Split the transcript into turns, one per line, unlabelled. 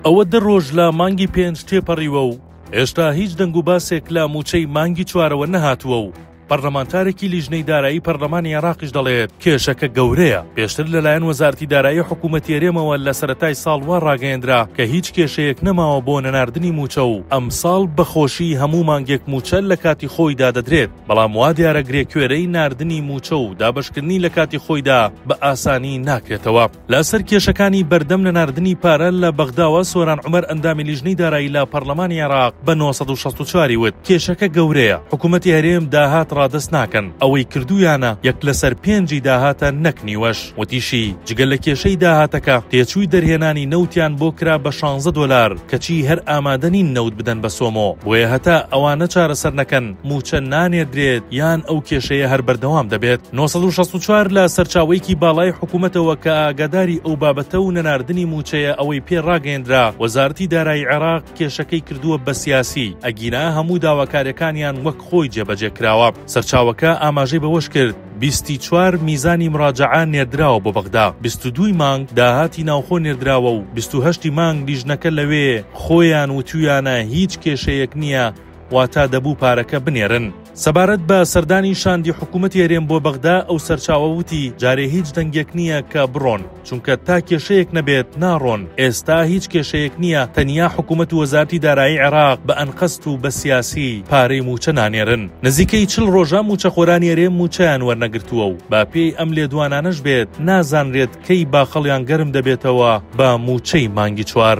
ئەوە دە ڕۆژ لە مانگی پێنج تێپەڕیوە و هێشتا هیچ دەنگ و باسێک لە مووچەی مانگی چوارەوە نەهاتووە و پەرلەمانتارێکی لیژنەی دارایی پەرلەمانی عێراقیش دەڵێت کێشەکە گەورەیە پێشتر لەلایەن وەزارتی دارایی حکوومەتی هەرێمەوە لە سەتای ساڵ وا ڕاگەیەندرا کە هیچ کێشەیەک نەماوە بۆ نەناردنی مووچە و ئەمساڵ بەخۆشی هەموو مانگێک مووچە لە کاتی خۆیدا دەدرێت بەڵام وا دیارە گرێکوێرەی ناردنی مووچە و دابشکردنی لە کاتی خۆیدا بە ئاسانی ناکرێتەوە. لە سەر کێشەکانی بەردەم نەناردنی پارە لە بەغداوە سۆران عومەر ئەندامی لیژنەی دارایی لە پەرلەمانی عێراق بە 964 وت کێشەکە گەورەیە حکوومەتی هەرێم داهات ڕادەست ناکەن ئەوەی کردویانە یەک لەسەر پێنجی داهاتە نەک نیوەش وتیشی جگە لە کێشەی داهاتەکە تێچووی دەرهێنانی نەوتیان بۆ کرا بە 16 دۆلار کەچی هەر ئامادەنین نەوت بدەن بە سۆمۆ بۆیە هەتا ئەوانە چارەسەر نەکەن مووچە نانێدرێت یان ئەو کێشەیە هەر بەردەوام دەبێت 1964 لە سەرچاوەیەکی باڵای حکوومەتەوە کە ئاگاداری ئەو بابەتە و نەناردنی مووچەیە ئەوەی پێ ڕاگەیەندرا وەزارەتی دارایی عێراق کێشەکەی کردووە بە سیاسی ئەگینا هەموو داواکاریەکانیان وەک خۆی جێبەجێ کراوە سەرچاوەکە ئاماژەی بەوەش کرد بیست و چوار میزانی مراجعە نێردراوە بۆ بەغدا بیست و دووی مانگ داهاتی ناوخۆ نێردراوە و بیست و هەشتی مانگ لیژنەکە لەوێ خۆیان وتویانە هیچ کێشەیەک نییە واتا دەبوو پارەکە بنێرن. سەبارەت بە سەردانی شاندی حکوومەتی هەرێم بۆ بەغدا، ئەو سەرچاوە وتی، جارێ هیچ دەنگێک نییە کە بڕۆن، چونکە تا کێشەیەک نەبێت ناڕۆن، ئێستا هیچ کێشەیەک نییە، تەنیا حکوومەت و وەزارەتی دارایی عێراق بە ئەنقەست و بە سیاسی پارەی مووچە نانێرن، نزیکەی چل ڕۆژە مووچەخۆرانی هەرێم مووچەیان وەرنەگرتووە و بە پێی ئەم لێدوانانەش بێت نازانرێت کەی باخەڵیان گەرم دەبێتەوە بە مووچەی مانگی چوار.